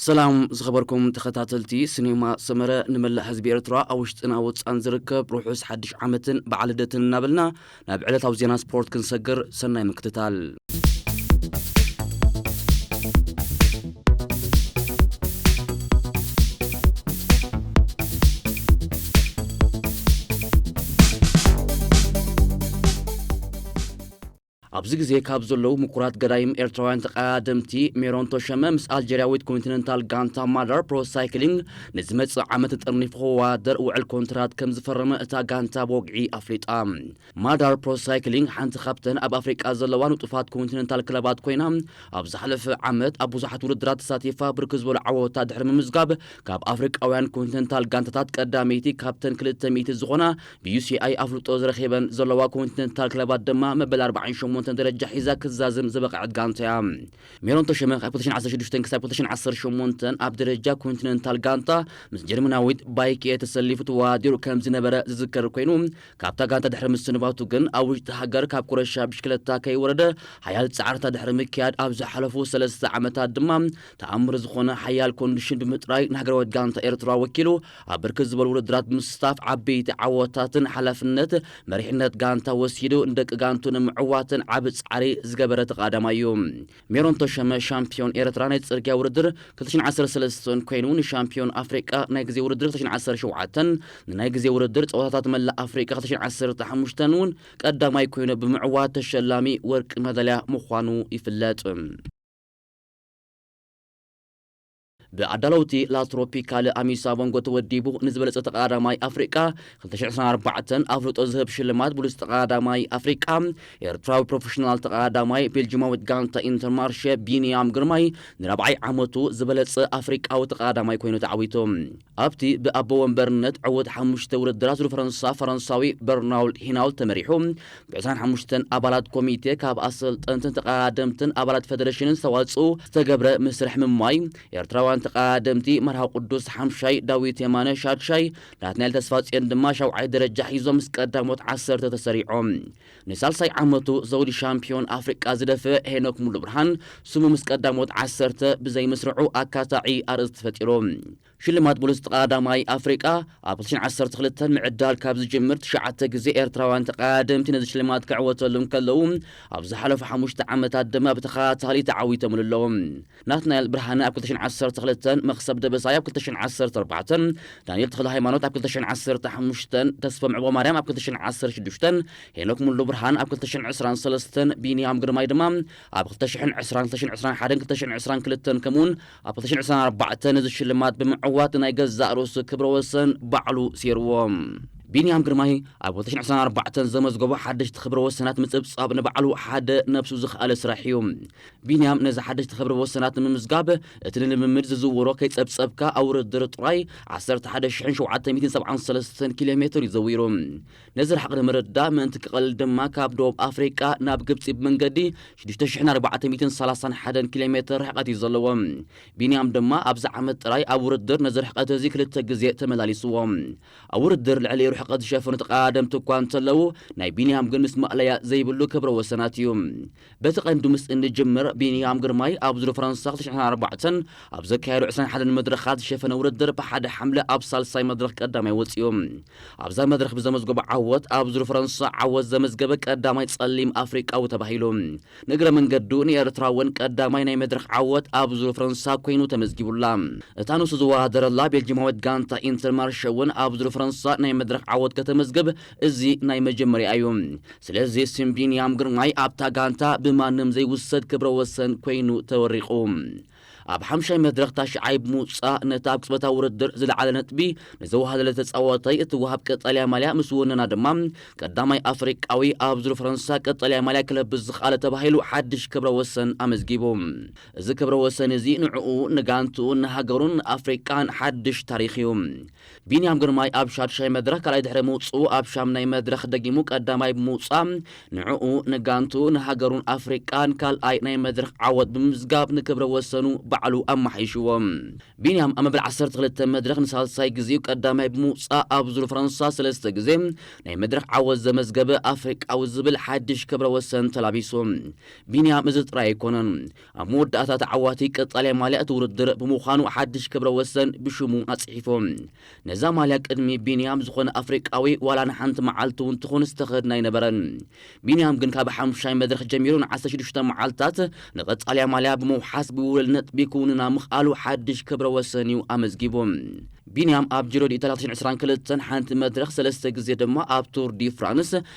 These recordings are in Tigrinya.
ሰላም ዝኸበርኩም ተኸታተልቲ ስኔማ ሰመረ ንመላእ ህዝቢ ኤርትራ ኣብ ውሽጥን ኣብ ወጻን ዝርከብ ርሑስ ሓድሽ ዓመትን በዓል ልደትን እናበልና ናብ ዕለታዊ ዜና ስፖርት ክንሰግር ሰናይ ምክትታል ኣብዚ ግዜ ካብ ዘለዉ ምኩራት ገዳይም ኤርትራውያን ተቐዳደምቲ ሜሮን ቶሸመ ምስ ኣልጀርያዊት ኮንቲነንታል ጋንታ ማዳር ፕሮ ሳይክሊንግ ንዝመጽእ ዓመት ተጠርኒፉ ክወዳደር ውዕል ኮንትራት ከም ዝፈረመ እታ ጋንታ ብወግዒ ኣፍሊጣ። ማዳር ፕሮ ሳይክሊንግ ሓንቲ ካብተን ኣብ ኣፍሪቃ ዘለዋ ንጡፋት ኮንቲነንታል ክለባት ኮይና፣ ኣብ ዝሓለፈ ዓመት ኣብ ብዙሓት ውድድራት ተሳቲፋ ብርክት ዝበሉ ዓወታት ድሕሪ ምምዝጋብ ካብ ኣፍሪቃውያን ኮንቲነንታል ጋንታታት ቀዳመይቲ ካብተን ክልተ ሚእቲ ዝኾና ብዩሲኣይ ኣፍልጦ ዝረኼበን ዘለዋ ኮንቲነንታል ክለባት ድማ መበል ኣርባዓን ሸሞንተን ደረጃ ሒዛ ክትዛዝም ዝበቐዐት ጋንታ'ያ። ሜሮን ተሾመ ካብ ክልተ ሽሕን ዓሰርተ ሽዱሽተን ክሳብ ክልተ ሽሕን ዓሰርተ ሸሞንተን ኣብ ደረጃ ኮንቲነንታል ጋንታ ምስ ጀርመናዊት ባይክኤ ተሰሊፉ ተወዳዲሩ ከምዝነበረ ዝዝከር ኮይኑ፣ ካብታ ጋንታ ድሕሪ ምስንባቱ ግን ኣብ ውሽጢ ሃገር ካብ ኩረሻ ብሽክለታ ከይወረደ ሓያል ጻዕርታ ድሕሪ ምክያድ ኣብ ዝሓለፉ ሰለስተ ዓመታት ድማ ተኣምር ዝኾነ ሓያል ኮንዲሽን ብምጥራይ ንሃገራዊት ጋንታ ኤርትራ ወኪሉ ኣብ ብርክት ዝበሉ ውድድራት ብምስታፍ ዓበይቲ ዓወታትን ሓላፍነት መሪሕነት ጋንታ ወሲዱ ንደቂ ጋንቱ ንምዕዋትን ዓቢ ጻዕሪ ዝገበረ ተቓዳማይ እዩ። ሜሮን ተሾመ ሻምፕዮን ኤርትራ ናይ ጽርግያ ውድድር ክልተ ሽሕን ዓሰርተ ሰለስተን ኮይኑ ንሻምፕዮን ኣፍሪቃ ናይ ግዜ ውድድር ክልተ ሽሕን ዓሰርተ ሸውዓተን ንናይ ግዜ ውድድር ጸወታታት መላእ ኣፍሪቃ ክልተ ሽሕን ዓሰርተ ሓሙሽተን እውን ቀዳማይ ኮይኑ ብምዕዋት ተሸላሚ ወርቂ መዳልያ ምዃኑ ይፍለጥ። ብኣዳለውቲ ላ ትሮፒካለ ኣሚሳ ቮንጎ ተወዲቡ ንዝበለጸ ተቐዳዳማይ ኣፍሪቃ ክልተ ሽሕ ዕስራን ኣርባዕተን ኣፍልጦ ዝህብ ሽልማት ብሉጽ ተቐዳዳማይ ኣፍሪቃ ኤርትራዊ ፕሮፈሽናል ተቐዳዳማይ ቤልጂማዊት ጋንታ ኢንተርማርሸ ቢንያም ግርማይ ንራብዓይ ዓመቱ ዝበለጸ ኣፍሪቃዊ ተቐዳዳማይ ኮይኑ ተዓዊቱ። ኣብቲ ብኣቦ ወንበርነት ዕዉት ሓሙሽተ ውድድራት ዙር ፈረንሳ ፈረንሳዊ በርናውል ሂናውል ተመሪሑ ብዕስራን ሓሙሽተን ኣባላት ኮሚቴ ካብ ኣሰልጠንትን ተቐዳደምትን ኣባላት ፈደሬሽንን ዝተዋፅኡ ዝተገብረ ምስርሕ ምሟይ ኤርትራውያን ተቐዳደምቲ መርሃዊ ቅዱስ ሓምሻይ፣ ዳዊት የማነ ሻድሻይ፣ ናትናኤል ተስፋጽዮን ድማ ሻውዓይ ደረጃ ሒዞም ምስ ቀዳሞት ዓሰርተ ተሰሪዖም። ንሳልሳይ ዓመቱ ዘውዲ ሻምፕዮን ኣፍሪቃ ዝደፍእ ሄኖክ ሙሉብርሃን ስሙ ምስ ቀዳሞት ዓሰርተ ብዘይምስርዑ ኣካታዒ ኣርእስቲ ፈጢሩ። ሽልማት ብሉጽ ተቐዳዳማይ ኣፍሪቃ ኣብ ክልተ ሽሕን ዓሰርተ ክልተን ምዕዳል ካብ ዝጅምር ትሽዓተ ግዜ ኤርትራውያን ተቐዳደምቲ ነዚ ሽልማት ክዕወተሉ እንከለዉ ኣብ ዝሓለፉ ሓሙሽተ ዓመታት ድማ ብተኸታታሊ ተዓዊተምሉ ኣለዉ። ናትናኤል ብርሃነ ኣብ ክልተ ሽሕን ዓሰርተ ክልተን፣ መኽሰብ ደበሳይ ኣብ ክልተ ሽሕን ዓሰርተ ኣርባዕተን፣ ዳንኤል ተኽለሃይማኖት ኣብ ክልተ ሽሕን ዓሰርተ ሓሙሽተን፣ ተስፎም ዕቕበማርያም ኣብ ክልተ ሽሕን ዓሰርተ ሽዱሽተን፣ ሄኖክ ሙሉብርሃን ኣብ ክልተ ሽሕን ዕስራን ሰለስተን፣ ቢንያም ግርማይ ድማ ኣብ ክልተ ሽሕን ዕስራን፣ ክልተ ሽሕን ዕስራን ሓደን ክልተ ሽሕን ዕስራን ክልተን ከምኡ'ውን ኣብ ክልተ ሽሕን ዕስራን ኣርባዕተን እዚ ሽልማት ብምዕዋት ናይ ገዛእ ርእሱ ክብረ ወሰን ባዕሉ ሴርዎ። ቢንያም ግርማይ ኣብ ክልተ ሽሕን ዕስራን ኣርባዕተን ዘመዝገቦ ሓደሽቲ ክብረ ወሰናት ምጽብጻብ ንባዕሉ ሓደ ነብሱ ዝኸኣለ ስራሕ እዩ። ቢንያም ነዚ ሓደሽቲ ክብረ ወሰናት ንምምዝጋብ እቲ ንልምምድ ዝዝውሮ ከይጸብጸብካ ኣብ ውርድር ጥራይ ዓሰርተ ሓደ ሽሕን ሸውዓተ ሚእትን ሰብዓን ሰለስተን ኪሎ ሜትር እዩ ዘዊሩ። ነዚ ርሕቕ ንምርዳእ ምእንቲ ክቐልል ድማ ካብ ደቡብ ኣፍሪቃ ናብ ግብጺ ብመንገዲ ሽዱሽተ ሽሕን ኣርባዕተ ሚእትን ሰላሳን ሓደን ኪሎ ሜትር ርሕቐት እዩ ዘለዎ። ቢንያም ድማ ኣብዚ ዓመት ጥራይ ኣብ ውርድር ነዚ ርሕቐት እዚ ክልተ ግዜ ተመላሊስዎ። ኣብ ውርድር ልዕሊ ርሕቐት ዝሸፈኑ ተቐዳደምቲ እኳ እንተለዉ ናይ ቢንያም ግን ምስ ማእለያ ዘይብሉ ክብረ ወሰናት እዩ። በቲ ቀንዲ ምስ እንጅምር፣ ቢንያም ግርማይ ኣብ ዙር ፈረንሳ ክልተ ሽሕን ኣርባዕተን ኣብ ዘካየዶ ዕስራን ሓደን መድረኻት ዝሸፈነ ውድድር ብሓደ ሓምለ ኣብ ሳልሳይ መድረኽ ቀዳማይ ወጺኡ። ኣብዛ መድረኽ ብዘመዝገቦ ዓወት ኣብ ዙር ፈረንሳ ዓወት ዘመዝገበ ቀዳማይ ጸሊም ኣፍሪቃዊ ተባሂሉ። ንእግረ መንገዱ ንኤርትራ እውን ቀዳማይ ናይ መድረኽ ዓወት ኣብ ዙር ፈረንሳ ኮይኑ ተመዝጊቡላ። እታ ንሱ ዝወዳደረላ ቤልጂማዊት ጋንታ ኢንተርማርሸ እውን ኣብ ዙር ፈረንሳ ናይ መድረኽ ዓወት ከተመዝግብ እዚ ናይ መጀመርያ እዩ። ስለዚ ስም ቢንያም ግርማይ ኣብታ ጋንታ ብማንም ዘይውሰድ ክብረ ወሰን ኮይኑ ተወሪቑ። ኣብ ሓምሻይ መድረኽ ታሽዓይ ብምውጻእ ነቲ ኣብ ቅጽበታዊ ውድድር ዝለዓለ ነጥቢ ንዘዋህለለ ተጻዋታይ እትወሃብ ቀጠልያ ማልያ ምስ ወነና ድማ ቀዳማይ ኣፍሪቃዊ ኣብ ዙር ፈረንሳ ቀጠልያ ማልያ ክለብስ ዝኸኣለ ተባሂሉ ሓድሽ ክብረ ወሰን ኣመዝጊቡ። እዚ ክብረ ወሰን እዚ ንዕኡ፣ ንጋንትኡን ንሃገሩን ንኣፍሪቃን ሓድሽ ታሪኽ እዩ። ቢንያም ግርማይ ኣብ ሻድሻይ መድረኽ ካልኣይ ድሕሪ ምውጽኡ ኣብ ሻምናይ መድረኽ ደጊሙ ቀዳማይ ብምውጻእ ንዕኡ፣ ንጋንትኡ፣ ንሃገሩን ኣፍሪቃን ካልኣይ ናይ መድረኽ ዓወት ብምምዝጋብ ንክብረ ወሰኑ ባዕሉ ኣማሓይሽዎ። ቢንያም ኣብ መበል ዓሰርተ ክልተ መድረኽ ንሳልሳይ ግዜኡ ቀዳማይ ብምውጻእ ኣብ ዙር ፈረንሳ ሰለስተ ግዜ ናይ መድረኽ ዓወት ዘመዝገበ ኣፍሪቃዊ ዝብል ሓድሽ ክብረ ወሰን ተላቢሱ። ቢንያም እዚ ጥራይ ኣይኮነን። ኣብ መወዳእታ ተዓዋቲ ቀጻላይ ማልያ እቲ ውድድር ብምዃኑ ሓድሽ ክብረ ወሰን ብሽሙ ኣጽሒፉ። ነዛ ማልያ ቅድሚ ቢንያም ዝኾነ ኣፍሪቃዊ ዋላ ንሓንቲ መዓልቲ እውን ትኹን ዝተኸድና ኣይነበረን። ቢንያም ግን ካብ ሓሙሻይ መድረኽ ጀሚሩ ንዓሰርተ ሽዱሽተ መዓልታት ንቀጻልያ ማልያ ብምውሓስ ብውህሉል ነጥቢ ክውንና ምኽኣሉ ሓድሽ ክብረ ወሰን እዩ ኣመዝጊቡ። ቢንያም ኣብ ጂሮ ዲኢታልያ ክልተ ሽሕን ዕስራን ክልተን ሓንቲ መድረኽ ሰለስተ ግዜ ድማ ኣብ ቱር ዲ ፍራንስ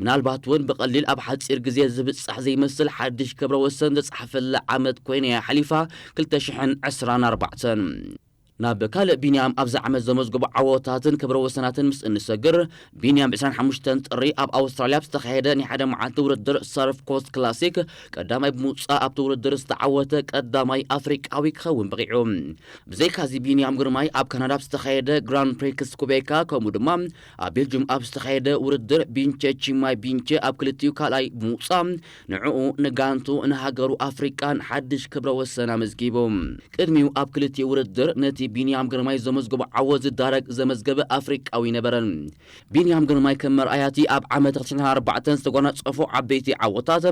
ምናልባት ውን ብቐሊል ኣብ ሓጺር ግዜ ዝብጻሕ ዘይመስል ሓድሽ ክብረ ወሰን ዘጽሓፈላ ዓመት ኮይና እያ ሓሊፋ ክልተ ሽሕን ዕስራን ኣርባዕተን። ናብ ካልእ ቢንያም ኣብዚ ዓመት ዘመዝገቦ ዓወታትን ክብረ ወሰናትን ምስ እንሰግር፣ ቢንያም ብ ዕስራን ሓሙሽተን ጥሪ ኣብ ኣውስትራልያ ኣብ ዝተኻየደ ናይ ሓደ መዓልቲ ውድድር ሰርፍ ኮስት ክላሲክ ቀዳማይ ብምውጻእ ኣብቲ ውድድር ዝተዓወተ ቀዳማይ ኣፍሪቃዊ ክኸውን በቒዑ። ብዘይካዚ ቢንያም ግርማይ ኣብ ካናዳ ኣብ ዝተኻየደ ግራንድ ፕሪክስ ኩቤካ ከምኡ ድማ ኣብ ቤልጁም ኣብ ዝተኻየደ ውድድር ቢንቸ ቺማይ ቢንቸ ኣብ ክልቲኡ ካልኣይ ብምውጻእ ንዕኡ፣ ንጋንትኡ፣ ንሃገሩ ኣፍሪቃን ሓድሽ ክብረ ወሰን ኣመዝጊቡ። ቅድሚኡ ኣብ ክልቲኡ ውድድር ነቲ ቢንያም ግርማይ ዘመዝገቦ ዓወት ዝዳረግ ዘመዝገበ ኣፍሪቃዊ ኣይነበረን። ቢንያም ግርማይ ከም መርኣያ'ቲ ኣብ ዓመተ ክልተ ሽሕን ኣርባዕተን ዝተጓናጸፎ ዓበይቲ ዓወታት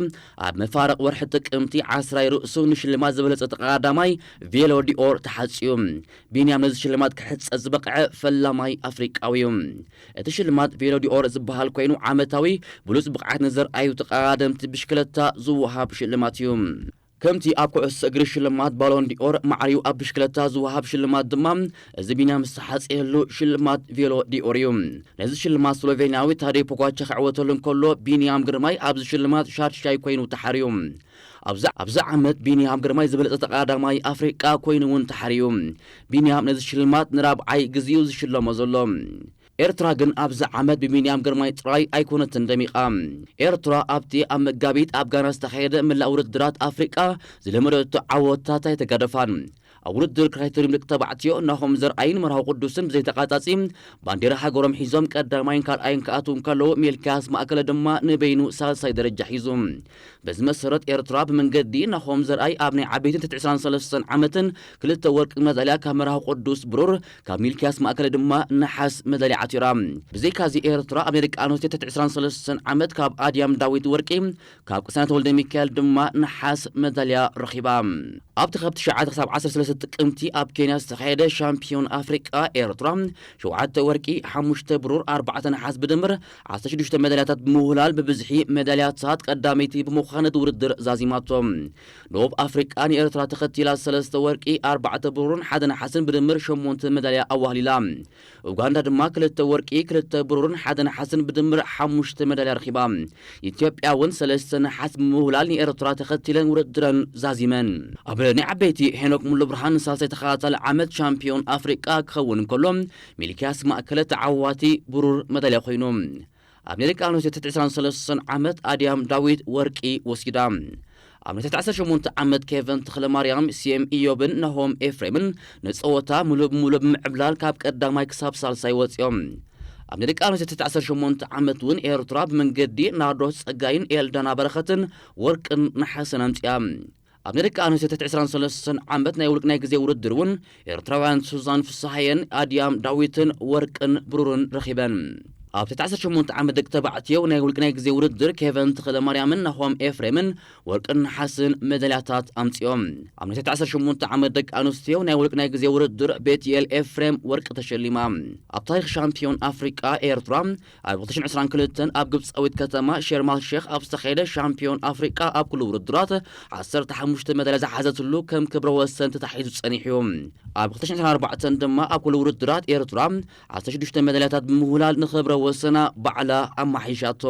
ኣብ መፋርቕ ወርሒ ጥቅምቲ ዓስራይ ርእሱ ንሽልማት ዝበለጸ ተቐዳዳማይ ቬሎ ዲ'ኦር ተሓጽዩ ቢንያም ነዚ ሽልማት ክሕጸ ዝበቕዐ ፈላማይ ኣፍሪቃዊ'ዩ። እቲ ሽልማት ቬሎ ዲ'ኦር ዝበሃል ኮይኑ ዓመታዊ ብሉጽ ብቕዓት ንዘርኣዩ ተቐዳደምቲ ብሽክለታ ዝወሃብ ሽልማት እዩ። ከምቲ ኣብ ኩዕሶ እግሪ ሽልማት ባሎን ዲ'ኦር ማዕሪኡ ኣብ ብሽክለታ ዝወሃብ ሽልማት ድማ እዚ ቢንያም ዝተሓጽየሉ ሽልማት ቬሎ ዲ'ኦር እዩ። ነዚ ሽልማት ስሎቬንያዊ ታደይ ፖጓቻ ክዕወተሉ እንከሎ ቢንያም ግርማይ ኣብዚ ሽልማት ሻድሻይ ኮይኑ ተሓርዩ። ኣብዚ ኣብዚ ዓመት ቢንያም ግርማይ ዝበለጸ ተቐዳዳማይ ኣፍሪቃ ኮይኑ'ውን ተሓርዩ። ቢንያም ነዚ ሽልማት ንራብዓይ ግዜ'ዩ ዝሽለሞ ዘሎ። ኤርትራ ግን ኣብዚ ዓመት ብቢንያም ግርማይ ጥራይ ኣይኮነትን ደሚቓ። ኤርትራ ኣብቲ ኣብ መጋቢት ኣብ ጋና ዝተኻየደ መላእ ውድድራት ኣፍሪቃ ዝለመደቶ ዓወታት ኣይተጋደፋን። ኣብ ውድድር ክራይተሪም ደቂ ተባዕትዮ ናሆም ዘርኣይን መርሃዊ ቅዱስን ብዘይተቛጻጺ ባንዴራ ሃገሮም ሒዞም ቀዳማይን ካልኣይን ክኣትዉ እንከለዉ ሚልክያስ ማእከለ ድማ ንበይኑ ሳልሳይ ደረጃ ሒዙ። በዚ መሰረት ኤርትራ ብመንገዲ ናሆም ዘርኣይ ኣብ ናይ ዓበይትን ትሕቲ ዕስራን ሰለስተን ዓመትን ክልተ ወርቂ መዳልያ ካብ መርሃዊ ቅዱስ ብሩር ካብ ሚልክያስ ማእከለ ድማ ነሓስ መዳልያ ዓቲራ። ብዘይካዚ ኤርትራ ኣብ ናይ ደቂ ኣንስትዮ ትሕቲ ዕስራን ሰለስተን ዓመት ካብ ኣድያም ዳዊት ወርቂ፣ ካብ ቅሳነት ወልደሚካኤል ድማ ነሓስ መዳልያ ረኺባ። ኣብቲ ካብ ትሽዓተ ክሳብ ዓሰርተ ሰለስተ ጥቅምቲ ኣብ ኬንያ ዝተኻየደ ሻምፕዮን ኣፍሪቃ ኤርትራ ሸውዓተ ወርቂ፣ ሓሙሽተ ብሩር፣ ኣርባዕተ ነሓስ ብድምር ዓሰርተ ሽዱሽተ መዳልያታት ብምውህላል ብብዝሒ መዳልያታት ቀዳመይቲ ብምዃን ነቲ ውድድር ዛዚማቶ። ደቡብ ኣፍሪቃ ንኤርትራ ተኸቲላ ሰለስተ ወርቂ፣ ኣርባዕተ ብሩርን ሓደ ነሓስን ብድምር ሸሞንተ መዳልያ ኣዋህሊላ። ኡጋንዳ ድማ ክልተ ወርቂ፣ ክልተ ብሩርን ሓደ ነሓስን ብድምር ሓሙሽተ መዳልያ ረኺባ። ኢትዮጵያ እውን ሰለስተ ነሓስ ብምውህላል ንኤርትራ ተኸቲለን ውድድረን ዛዚመን። ኣብ ናይ ዓበይቲ ሄኖክ ሙሉብርሃን ንሳልሳይ ተኸታታሊ ዓመት ቻምፒዮን ኣፍሪቃ ክኸውን እንከሎ፣ ሚልክያስ ማእከለ ተዓዋቲ ብሩር መዳልያ ኮይኑ። ኣብ ደቂ ኣንስትዮ ትሕቲ ዕስራን ሰለስተን ዓመት ኣድያም ዳዊት ወርቂ ወሲዳ። ኣብ ናይ ትሕቲ ዓሰርተ ሸሞንተ ዓመት ኬቨን ተኽለማርያም፣ ሴም እዮብን ናሆም ኤፍሬምን ንጸወታ ምሉእ ብምሉእ ብምዕብላል ካብ ቀዳማይ ክሳብ ሳልሳይ ወጺኦም። ኣብ ናይ ደቂ ኣንስትዮ ትሕቲ ዓሰርተ ሸሞንተ ዓመት እውን ኤርትራ ብመንገዲ ናርዶስ ጸጋይን ኤልዳና በረኸትን ወርቅን ነሓስን ኣምጺኣ። ኣብ ንደቂ ኣንስትዮ ትሕቲ ዕስራን ሰለስተን ዓመት ናይ ውልቅ ናይ ግዜ ውድድር እውን ኤርትራውያን ሱዛን ፍስሃየን ኣድያም ዳዊትን ወርቅን ብሩርን ረኺበን። ኣብ ትሕቲ ዓሰርተ ሸሞንተ ዓመት ደቂ ተባዕትዮ ናይ ውልቅ ናይ ግዜ ውድድር ኬቨን ተኽለማርያምን ናሆም ኤፍሬምን ወርቅን ነሓስን መዳልያታት ኣምጺኦም። ኣብ ናይ ትሕቲ ዓሰርተ ሸሞንተ ዓመት ደቂ ኣንስትዮ ናይ ውልቅ ናይ ግዜ ውድድር ቤትኤል ኤፍሬም ወርቂ ተሸሊማ። ኣብ ታሪኽ ሻምፕዮን ኣፍሪቃ ኤርትራ ኣብ ክልተ ሽሕን ዕስራን ክልተን ኣብ ግብጻዊት ከተማ ሸርማል ሼኽ ኣብ ዝተኻየደ ሻምፕዮን ኣፍሪቃ ኣብ ኩሉ ውድድራት ዓሰርተ ሓሙሽተ መዳልያ ዝሓዘትሉ ከም ክብረ ወሰን ተታሒዙ ጸኒሑ እዩ። ኣብ ክልተ ሽሕን ዕስራን ኣርባዕተን ድማ ኣብ ኩሉ ውድድራት ኤርትራ ዓሰርተ ሽዱሽተ መዳልያታት ብምውህላል ንክብረ ወሰና ባዕላ ኣማሓይሻቶ።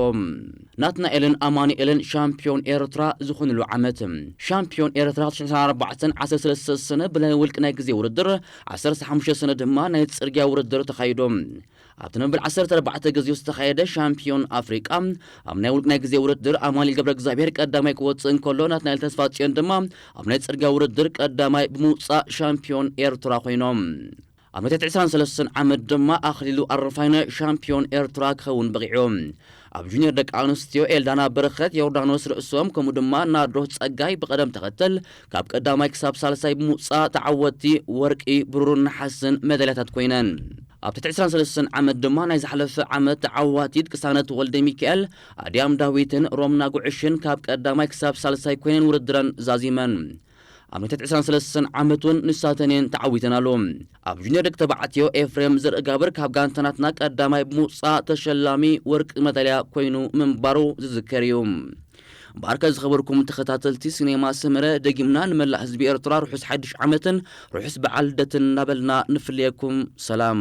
ናትናኤልን ኣማኑኤልን ሻምፕዮን ኤርትራ ዝኾንሉ ዓመት። ሻምፕዮን ኤርትራ ክልተ ሽሕን ዕስራን ኣርባዕተን ዓሰርተ ሰለስተ ሰነ ብናይ ውልቂ ናይ ግዜ ውድድር፣ ዓሰርተ ሓሙሽተ ሰነ ድማ ናይ ጽርግያ ውድድር ተኻይዱ። ኣብቲ ንመበል ዓሰርተ ኣርባዕተ ግዜኡ ዝተኻየደ ሻምፕዮን ኣፍሪቃ ኣብ ናይ ውልቅ ናይ ግዜ ውድድር ኣማኒኤል ገብረእግዚኣብሄር ቀዳማይ ክወጽእ እንከሎ ናትናኤል ተስፋጽዮን ድማ ኣብ ናይ ጽርግያ ውድድር ቀዳማይ ብምውጻእ ሻምፕዮን ኤርትራ ኮይኖም። ኣብ መትት ዕስራን ሰለስተን ዓመት ድማ ኣኽሊሉ ኣረፋይነ ሻምፕዮን ኤርትራ ክኸውን በቒዑ። ኣብ ጁንየር ደቂ ኣንስትዮ ኤልዳና በረኸት፣ ዮርዳኖስ ርእሶም ከምኡ ድማ ናርዶስ ጸጋይ ብቐደም ተኸተል ካብ ቀዳማይ ክሳብ ሳልሳይ ብምውጻእ ተዓወትቲ ወርቂ፣ ብሩርን ነሓስን መዳልያታት ኮይነን። ኣብ ትሕቲ ዕስራን ሰለስተን ዓመት ድማ ናይ ዝሓለፈ ዓመት ተዓዋቲት ቅሳነት ወልደሚካኤል፣ ኣድያም ዳዊትን ሮምና ጉዕሽን ካብ ቀዳማይ ክሳብ ሳልሳይ ኮይነን ውድድረን ዛዚመን። ኣብነታት ዕስራን ሰለስተን ዓመት እውን ንሳተን እየን ተዓዊተናሉ። ኣብ ጁኒየር ደቂ ተባዕትዮ ኤፍሬም ዘርእጋብር ካብ ጋንታናትና ቀዳማይ ብምውፃእ ተሸላሚ ወርቂ መዳልያ ኮይኑ ምንባሩ ዝዝከር እዩ። ባርከ ዝኸበርኩም ተኸታተልቲ ሲኔማ ሰመረ ደጊምና ንመላእ ህዝቢ ኤርትራ ርሑስ ሓድሽ ዓመትን ርሑስ በዓል ልደትን እናበልና ንፍልየኩም ሰላም